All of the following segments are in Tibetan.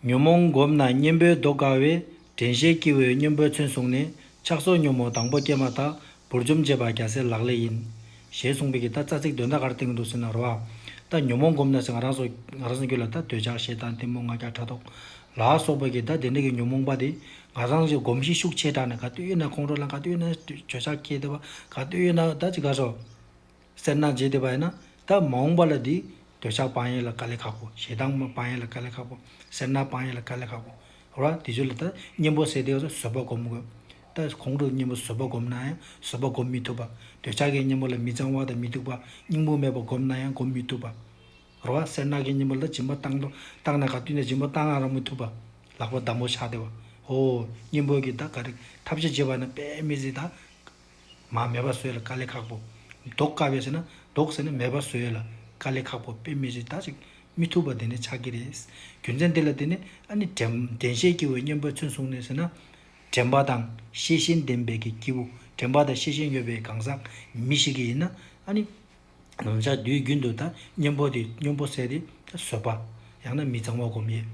ཉོན་མོངས་བསྒོམས་ན་གཉེན་པོའི་མདོ་དགའ་བས་དྲན་ཤེས་སྐྱེ་བོའི་གཉེན་པོའི་མཚོན་བཟུང་ནས་ཆགས་སོགས་ཉོན་མོངས་དང་པོ་སྐྱེས་མ་ཐག་བུར་འཇོམས་བྱེད་པ་རྒྱ་སེ་ལག་ལས་ཡིན། ཞེས་གསུངས་པའི་གི་ད་རྩ་ཚིག་དོན་ད་གར་བསྟན་གྱི་འདུག་ཟེར་ན་རོ། ད་ཉོན་མོངས་བསྒོམས་ན་ཟེར་ང་རང་སོ། ང་རང་སོ་རྒྱུད་ལ་ད་འདོད་ཆགས་ཞེ་སྡང་གཏི་མུག་ང་རྒྱལ་ཕྲག་དོག། ལ་སོགས་པ་གི་ད་དེ་འདྲ་གི་ཉོན་མོངས་པ་དེ་ང་རང་སོ་བསྒོམས་ཤིང་ཤུགས་ཆེ་དྲགས་ནས་ག་དུས་ཡོད་ན་ཁོང་ཁྲོ་ལ་ག་དུས་ཡོད་ན་འདོད་ཆགས་སྐྱེ་ཐུབ་པ་ག་དུས་ཡོད་ན་ད་ཅི་དགའ་སོ། སེར་སྣ་རྗེས་དེད་པ་ཡིན་ན་ད་མ་འོངས་པ་ལ་དེ་འདོད་ཆགས་སྤང་ཡས་ལ་དཀའ་ལས་ཁག་པོ་ཞེ་སྡང་མ་སྤང་ཡས་ལ་དཀའ་ལས་ཁག་པོ་སེར་སྣ་སྤང་ཡས་ལ་དཀའ་ལས་ཁག་པོ་རོ་ཨ་དེ་ཚོས་ལ་ད་གཉེན་པོ་བསད་དེ་ག་ཚོད་བཟོད་པ་བསྒོམ་དགོས་ད་གོང་དུ་གཉེན་པོ་བཟོད་པ་བསྒོམ་ན་ཡང་བཟོད་པ་བསྒོམ་མི་ཐུབ་པ་འདོད་ཆགས་ཀྱི་གཉེན་པོ་ལ་མི་གཙང་བ་དང་མི་སྡུག་པ་སྙིང་པོ་མེད་པ་བསྒོམ་ན་ཡང་བསྒོམ་མི་ཐུབ་པ་རོ་ཨ་སེར་སྣ་གི་གཉེན་པོ་ལ་སྦྱིན་པ་བཏང་དང་བཏང་ན་ག་དུས་ན་སྦྱིན་པ་བཏང་ཡང་རག་མི་ཐུབ་པ་ལག་པ་འདམ་པོ་ཆགས་དེ་བ་ཧོ་གཉེན་པོ་གི་ད་ག་རེ་ཐབས་ཆེ་བྱེད་པ་ན་དཔེ་མི་ཟིན་ད། མ་མེད་པ་བཟོས་ལ་དཀའ་ལས་ཁག་པོ། ལྡོག་དཀའ་བས་ཟེར་ན་ལྡོག་ཟེར་ན་མེད་པ་བཟོས་ལ་དཀའ་ལས་ཁག་པོ་དཔེ་མི་རིགས་དག་ཅིག་མི་ཐུབ་པ་དེ་ནི་ཆགས་ཀྱི་རེད། རྒྱུ་མཚན་འདི་ལ་བརྟེན་ནས་ཨ་ནི་དྲན་ཤེས་སྐྱེ་བོའི་སྙན་པོའི་མཚོན་བཟུང་ནས་ཟེར་ན། དྲན་པ་དང་ཤེས་བཞིན་ལྡན་པའི་གི་སྐྱེས་བུ་དྲན་པ་དང་ཤེས་བཞིན་ཡོད་པའི་གང་ཟག་མི་ཞིག་གི་ཡིན་ན་ཨ་ནི། ལམ་ཆགས་དུས་རྒྱུན་དུ་དང་གཉེན་པོ་སྟེ་གཉོམ་པོ་བསལ་ཏེ་བཟོད་པ། ཡང་ན་མི་གཙང་བ་སྒོམ་ཡས།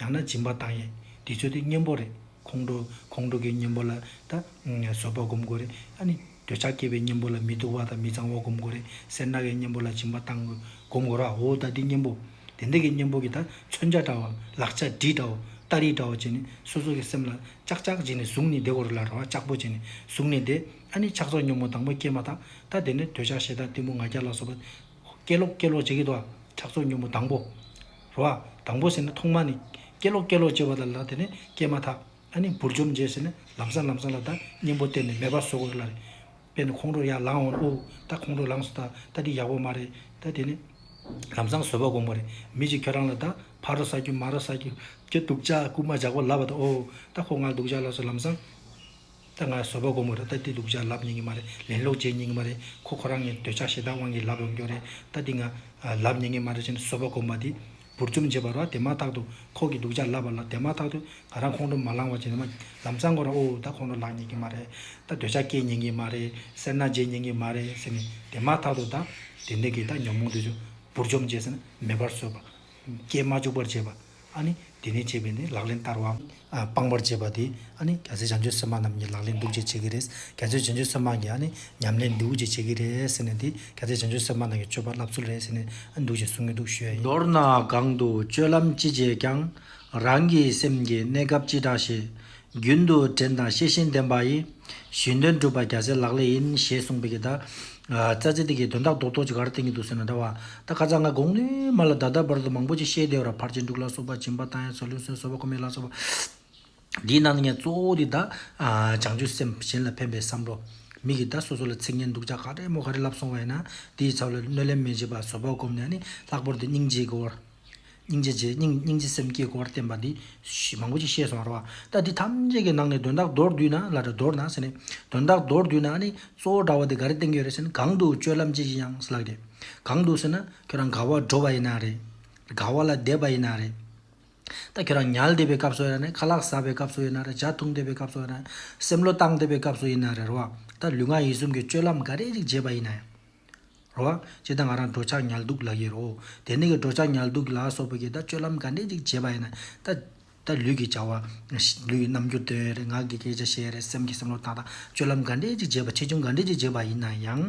ཡང་ན་སྦྱིན་པ་བཏང་ཡས། འདི་ཚོ་སྟེ་གཉེན་པོ་རེད། ཁོང་ཁྲོ། ཁོང་ཁྲོ་གི་གཉེན་པོ་ལ་དང་བཟོད་པ་སྒོམ་དགོས་རེད། ཡང་ནི་འདོད་ཆགས་སྐྱེས་པའི་གཉེན་པོ་ལ་མི་སྡུག་བ་དང་མི་གཙང་བ་སྒོམ་དགོས་རེད། སེར་སྣ་གི་གཉེན་པོ་ལ་སྦྱིན་པ་བཏང་དགོས། སྒོམ་དགོས་ར་འོ་ད་འདི་གཉེན་པོ། དེ་འདི་གི་གཉེན་པོ་གི་དང་མཚོན་ཆ་འདྲ་བ། ལག་ཆ་འདྲིས་འདྲ་བོ། སྟ་རིས་འདྲ་བོ་བྱས་ནས་སོ་སོ་གི་སེམས་ལ་ཅག་ཅག་བྱས་ནས་གཟུགས་ནི་བདེ་བོར་ལ་ར་བ་ཅག་པོ་བྱས་ནས་གཟུགས་ནི་བདེ། ཨ་ནི་ཕྱག་ཚོགས་སྙོམས་མོ་དང་པོ་སྐྱེལ་མ་དང་ད་དེ་ནས་འདོད་ཆགས་ཞེ་སྡང་གཏི་མུག་ང་རྒྱལ་ལ་སོགས་པ། སྐྱེལ་ལོ་སྐྱེལ་ལོ་བྱེད་ཀྱི་འདུག་ཨ་ཕྱག་ཚོགས་སྙོམས་མོ་དང་པོ། རོ་ཨ། དང་པོ་ཟེར་ནས་ཐོག་མ་ནི། སྐྱེལ་ལོ་སྐྱེལ་ལོ་བྱེད་པ་ལ་ད་དེ་ནས་སྐྱེལ་མ་ཐག་ཨ་ནི་འབུར་འཇོམས་བྱེད་ཟེར་ནས་ལམ་སང་ལམ་སང་ལ་ད་གཉེན་པོ་བསྟན་ནས་མེ་སྦར་སོགས་ལ་རེད། པས་ནི་ཁོང་ཁྲོ་ཡར་ལངས་འོང་ཨོའུ་ད་ཁོང་ཁྲོ་ལངས་སོ་ད་ད་འདི་ཡག་པོ་མ་རེད་ད་དེ་ནས། ལམ་སང་བཟོད་པ་དགོངས་པ་རེད་མི་གཅིག་ཁྱོད་རང་ལ་ད་ཕ་རོ་ཟ་རྒྱུ་མ་རོ་ཟ་རྒྱུ་རྒྱུ་འདུག་ཅག་རྐུ་མ་ཇག་པོ་ལབ་པ་ད་ཨོའུ་ད་ཁོ་ང་འདུག་ཅག་ལ་སོགས་ལམ་སང། ད་ང་བཟོད་པ་སྒོམ་གི་རེད་ད་འདི་སྡུག་ཅག་ལབ་ཉན་གི་མ་རེད་ལན་ལོག་འཇལ་ཉན་གི་མ་རེད་ཁོ་ཁོ་རང་གི་འདོད་ཆགས་ཞེ་སྡང་དབང་གིས་ལབ་ཡོང་རྒྱུ་རེད་ད་འདི་ང་ལབ་ཉན་གི་མ་རེད་ཅེས་ནས་བཟོད་པ་སྒོམ་པ་འདི་འབུར་འཇོམས་བྱེད་པ་རོ་དེ་མ་ཐག་ཏུ་ཁོག་གི་སྡུག་ཅག་ལབ་པ་ལ་དེ་མ་ཐག་ཏུ་ང་རང་ཁོང་ཁྲོ་མ་ལངས་བར་བྱས་ནས་མ་ལམ་གཙང་གོ་ར་ཨོའོ་ད་ཁོང་ཁྲོ་ལངས་ཉན་གི་མ་རེད་ད་འདོད་ཆགས་སྐྱེས་ཉན་གི་མ་རེད་སེར་སྣ་འཇལ་ཉན་གི་མ་རེད་ཟེར་ནས་དེ་མ་ཐག་ཏུ་ད་དེ་འདི་གི་ད་ཉོན་མོངས་འདོད་ཆགས་འབུར་འཇོམས་བྱས་ཟེར་ན་མེད་པར་བཟོད་པ་རྐྱེན་མ་འཇུག་པར་བྱེད་པ། ཨཱ་ནི། དེ་ནས་བྱེད་པས་ནི་ལག་ལེན་བསྟར་བའམ། སྤང་བར་བྱེད་པ་དེ། ཨཱ་ནི། རྒྱ་མཚོའི་བྱང་ཆུབ་སེམས་དཔའ་རྣམས་ཀྱི་ལག་ལེན་འདུག་ཅེས་བྱེད་ཀྱི་རེད། རྒྱ་མཚོའི་བྱང་ཆུབ་སེམས་དཔའ་གྱི་ཨཱ་ནི། ཉམས་ལེན་འདུག་ཅེས་བྱེད་ཀྱི་རེད་ཟེར་ནས་དེ། རྒྱ་མཚོའི་བྱང་ཆུབ་སེམས་དཔའ་རྣམས་ཀྱི་སྤྱོད་པ་བསླབ་ཚུལ་རེད་ཟེར་ནས། ཨཱ་འདུག་ཅེས་གསུང་གི་འདུག་ཞུ་ཡ་ཡིན། མདོར་ན་གང་དུ་སྤྱོད་ལམ་ཅི་བྱས་ཀྱང། རང་གི་སེམས་ཀྱི་གནས་སྐབས་ཅི་འདྲ་ཞེས། རྒྱུན་དུ་དྲན་དང་ཤེས་བཞིན་ལྡན་པ་ཡིས། གཞན་དོན་སྒྲུབ་པ་རྒྱ་ཆེ་ལག་ལས་ཡིན། ཞེས་གསུངས་པའི་གདའ། རྩ་ཚིག་དེ་གའི་དོན་རྟགས་རྡོག་རྡོག་ཅིག་གར་བསྟན་གྱི་འདུག་ཟེར་ན་འདྲ་བ། ད་ཁ་ཚ་ང་དགོངས་ནས་མ་ལ་ད་ལྟ་བར་དུ་མང་པོ་ཅིག་བཤད་བདེ་བར་ཕར་ཆེན་འབྲུག་ལ་སོགས་པ་བྱིན་པ་དང་ཡང་ཚོ་ལུས་སོན་སོ་བ་ཁོ་མོའི་ལག་སོགས་པ། འདིའི་ནང་ནས་ངས་གཙོ་བོ་དེ་དག་བྱང་ཆུབ་སེམས་གཞན་ལ་ཕན་པའི་བསམ་བློ། མིག་གིས་ད་སོ་སོ་ལ་ཚིག་ངན་སྡུག་ཅག་ག་རེ་མོ་ག་རེ་ལབ་སོང་བ་ཡིན་ན་དེའི་ཚབ་ལ་གནོད་ལན་མི་བྱེད་པར་བཟོད་པར་བསྒོམས་ནས་ནི་ལྷག་པར་དུ་སྙིང་རྗེའི་སྒོར། སྙིང་རྗེ་རྗེ་སྙིང་སྙིང་རྗེ་སེམས་བསྐྱེད་སྐོར་བསྟན་པ་འདི། མང་པོ་ཅིག་ཤེས་སོང་རོ། ད་འདི་ཐམས་ཅད་ཀྱི་ནང་ནས་དོན་དག་མདོར་བསྡུས་ན་ལ་དྲ་མདོར་ན་ཟེར་ནས། དོན་དག་མདོར་བསྡུས་ན་ནི་གཙོ་བོ་དྲ་བ་འདི་ག་རེ་བསྟན་གྱི་ཡོད་རེད་ཟེར་ན་གང་འདུག་སྤྱོད་ལམ་ཅི་ཞིག་ཡང་ལགས་ཏེ། གང་འདུག་ཟེར་ན་ཁྱོད་རང་དགའ་བ་འགྲོ་བ་ཡིན་ན་རེད། དགའ་བ་ལ་དད་པ་ཡིན་ན་རེད། ད་ཁྱོད་རང་ཉལ་བསྡད་པའི་སྐབས་སུ་ཡིན་ན་རེད་ཁ་ལག་ཟ་བའི་སྐབས་སུ་ཡིན་ན་རེད་ལྗགས་འཐུང་བསྡད་པའི་སྐབས་སུ་ཡིན་ན་རེད་སེམས་བློ་བཏང་བསྡད་པའི་སྐབས་སུ་ཡིན་ན་རེད་རེད་བ། ད་ལུས་ངག་ཡིད་གསུམ་གྱི་སྤྱོད་ལམ་འགའ་རེ་ཞིག་བརྗེད་པ་ཡིན་ན་ཡང། རོ། ཅེས་དང་ང་རང་འགྲོ་འཆག་ཉལ་འདུག་ལག་གཡས་རོ། དེ་ནས་ཀྱི་འགྲོ་འཆག་ཉལ་འདུག་ལ་སོགས་པའི་གྱི་དང་སྤྱོད་ལམ་ག་འདྲས་ཅིག་བྱེད་པ་ཡིན་ན། ད་ལྟ་ལུས་ཀྱི་བྱ་བ། ལུས་ཀྱི་རྣམ་འགྱུར་དོན་རེ་ངག་གི་སྐད་ཆ་བཤད་རེ་སེམས་ཀྱི་སེམས་བློ་བཏང་དང་སྤྱོད་ལམ་ག་འདྲས་ཅིག་བྱེད་པ་ཆེ་ཆུང་ག་འདྲས་ཅིག་བྱེད་པ་ཡིན་ན་ཡང།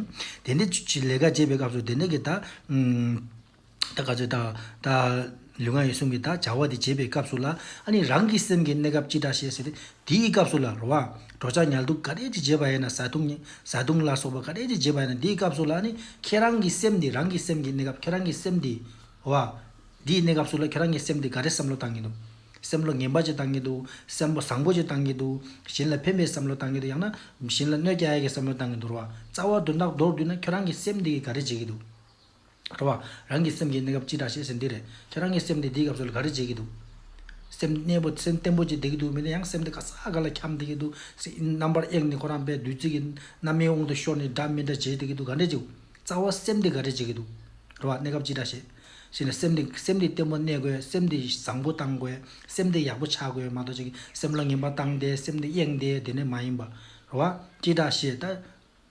དེ་འདྲས་ཀྱི་ལས་ཀ་བྱེད་པའི་སྐབས་སུ་དེ་འདྲས་ཀྱི་དང། ད་ག་ཚོད་ད། ལུས་ངག་ཡིད་གསུམ་གྱི་དག་བྱ་བ་དེ་བྱེད་པའི་སྐབས་སུ་ལ་ཨ་ནི་རང་གི་སེམས་ཀྱི་གནས་སྐབས་ཅི་འདྲ་ཞེས་ཟེར། དེའི་སྐབས་སུ་ལ་རོ་བ། གྲོགས་ཆག་ཉལ་འདུག་ག་རེ་ཅི་བྱེད་པ་ཡིན་ན་བཟའ་བཏུང། བཟའ་བཏུང་ལ་སོགས་པ་ག་རེ་ཅི་བྱེད་པ་ཡིན་ན་དེའི་སྐབས་སུ་ལ་ནི་ཁྱེད་རང་གི་སེམས་དེ་རང་གི་སེམས་ཀྱི་གནས་སྐབས་ཁྱེད་རང་གི་སེམས་དེ། རོ་བ། དེའི་གནས་སྐབས་སུ་ལ་ཁྱེད་རང་གི་སེམས་དེ་ག་རེ་བསམ་བློ་བཏང་གིན་འདུག་བསམ་བློ་ངན་པ་ཅི་བཏང་གིན་འདུག་བསམ་བོ་བཟང་པོ་ཅི་བཏང་གིན་འདུག་གཞན་ལ་ཕན་པའི་བསམ་བློ་བཏང་གིན་འདུག་ཡང་ན་གཞན་ལ་གནོད་རྐྱ་ཡག་གི་བསམ་བློ་བཏང་གིན་འདུག་རོ་བ། རྩ་བ་དོན་དག་མདོར་བསྡུས་ན་ཁྱོད་རང་གི་སེམས་དེ་གིས་ག་རེ་བྱེད་ཀྱིན་འདུག། འགྲོ་བ་རང་གི་སེམས་ཀྱི་གནས་སྐབས་ཅི་འདྲ་ཞེས་ཟེར་འདི་རེད། ཁྱེད་རང་གི་སེམས་དེ་འདིའི་སྐབས་སུ་ལ་ག་རེ་བྱེད་ཀྱི་འདུག། སེམས་གནས་པོ་སེམས་བརྟན་པོ་ཅིག་བསྡད་ཀྱི་འདུག་མི་ལ་ཡང་སེམས་དེ་ག་ས་ག་ལ་འཁྱམས་བསྡད་ཀྱི་འདུག་རྣམ་པར་གཡེངས་ནས་ཁོ་རང་པའི་བདུད་རྩི་གི་རྣམ་སྨིན་དབང་དུ་ཤོར་ནས་འདྲ་མི་འདྲ་བྱེད་བསྡད་ཀྱི་འདུག་ག་འདྲ་བྱེད། རྩ་བ་སེམས་དེ་ག་རེ་བྱེད་ཀྱི་འདུག། འགྲོ་བ་གནས་སྐབས་ཅི་འདྲ་བྱེད། ཞེས་ན་སེམས་དེ་སེམས་དེ་བརྟན་པོ་གནས་དགོས་སེམས་དེ་བཟང་པོ་བཏང་དགོས་སེམས་དེ་ཡག་པོ་ཆགས་དགོས་མ་གཏོགས་ཅིག་སེམས་ལ་ངན་པ་བཏང་སྟེ་སེམས་དེ་གཡེངས་ཏེ་བསྡད་ནི་མ་ཡིན་པ། འགྲོ་བ་ཅི་འདྲ་བྱེད་ད།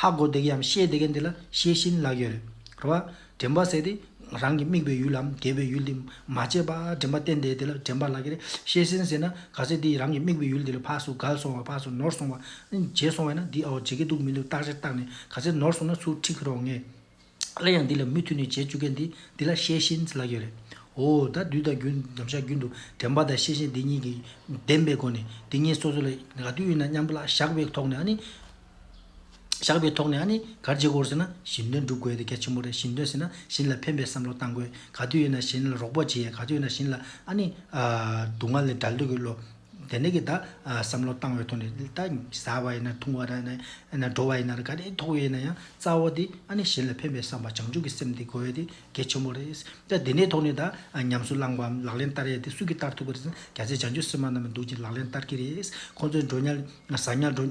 ཧ་གོ་བདེ་གམ་ཤེས་བདེ་མཁན་དེ་ལ་ཤེས་བཞིན་ལག་ཡོད་རེད་བ། དྲན་པ་ཟེར་དེ་རང་གི་དམིགས་པའི་ཡུལ་ལམ་དགེ་བའི་ཡུལ་དེ་མ་བྱས་པ་དྲན་པ་བརྟེན་ཏེ་དེ་ལ་དྲན་པ་ལག་གི་རེད་ཤེས་བཞིན་ཟེར་ན་ག་ཚད་དེ་རང་གི་དམིགས་པའི་ཡུལ་དེ་ལ་ཕར་སུ་གལ་སོང་བ་ཕར་སུ་ནོར་སོང་བ། བརྗེད་སོང་བས་ན་འདི་ཨའོ་བརྗེད་ཀྱི་འདུག་མི་འདུག་བརྟག་བྱར་བརྟག་ནས་ག་ཚད་ནོར་སོང་ན་ཚུར་ཁྲིད་ཁུ་རོགས་ངས། སླད་ཡང་འདི་ལ་མུ་མཐུད་ནས་བྱེད་བཅུག་མཁན་འདི་འདི་ལ་ཤེས་བཞིན་ལགས་ཀྱི་རེད། འོ་ད་བདུད་དང་རྒྱུ་ནམ་ཞག་རྒྱུན་དུ་དྲན་པ་དང་ཤེས་བཞིན་འདི་གཉིས་ཀྱི་བདེན་པའི་སྒོ་ནས་འདི་གཉིས་སོ་སོ་ལ་ག་དུས་ཡིན་ན་མཉམ་པོ་ལ་བཞག་པའི་ཐོག་ནས་ཨ་ནི། བཞག་པའི་ཐོག་ནས་ཨ་ནི་གར་བྱེད་དགོས་ཟེར་ན་གཞན་དོན་སྒྲུབ་དགོས་དེ་གལ་ཆེན་པོ་རེད་གཞན་དོན་ཟེར་ན་གཞན་ལ་ཕན་པའི་བསམ་བློ་གཏང་དགོས་ག་དུས་ཡིན་ན་གཞན་ལ་རོགས་པ་བྱེད་ཡ་ག་དུས་ཡིན་ན་གཞན་ལ་ཨ་ནི། སྡུག་བསྔལ་ལས་སྒྲལ་འདོད་ཀྱི་བློ། དེ་ནས་ཀྱི་ད་བསམ་བློ་བཏང་བའི་ཐོག་ནས་ད་ཟ་བ་ཡིན་ན་འཐུང་བ་ཡིན་ན་འགྲོ་བ་ཡིན་ན་ག་རེ་ཐོགས་ཡོད་ན་ཡང་རྩ་བ་དེ་ཨ་ནི་གཞན་ལ་ཕན་པའི་བསམ་པ་བྱང་ཆུབ་ཀྱི་སེམས་དེ་གོ་ཡོད་དེ་གལ་ཆེན་པོ་རེད། ད་དེ་ནས་ཐོག་ནས་ད་ཉམས་སུ་བླངས་པའམ་ལག་ལེན་བསྟར་ཡས་དེ་སུ་གིས་བསྟར་ཐུབ་པ་རེད་ཟེར་ན་རྒྱ་ཆེ་བྱང་ཆུབ་སེམས་དཔའ་རྣམས་ལ་འདུག་ཅིང་ལག་ལེན་བསྟར་གྱི་རེད། ཁོང་ཚོའི་འགྲོ་ཉལ་ཟ་ཉལ་འགྲོ།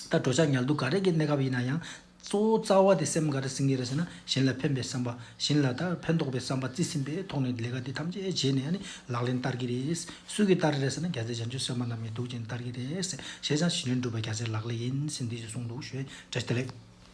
ད་འགྲོ་ཆགས་ཉལ་འདུག་ག་རེ་གྱི་གནས་སྐབས་ཡིན་ན་ཡང། གཙོ་བོ་རྩ་བ་དེ་སེམས་ག་རེ་ཟིན་གི་རེད་ཟེར་ན་གཞན་ལ་ཕན་པའི་བསམ་པ་གཞན་ལ་དང་ཕན་ཐོགས་པའི་བསམ་པ་རྩི་ཟིན་པའི་ཐོག་ནས་ལས་ཀ་དེ་ཐམས་ཅད་བྱས་ནས་ཡང་ནི་ལག་ལེན་བསྟར་གི་རེད། སུས་ཀྱིས་བསྟར་རེད་ཟེར་ན་རྒྱ་ཚའི་བྱམས་ཆོས་སེར་མ་རྣམས་ཀྱིས་སྡུག་ཅིང་བསྟར་གི་རེད། བྱས་ཙང་ཞི་ལུས་འགྲུབ་པ་རྒྱ་ཚའི་ལག་ལས་ཡིན་ཟིན་འདི་ཞེས་གསུངས་འདུག་ཞོལ་རྒྱལ་ལེགས།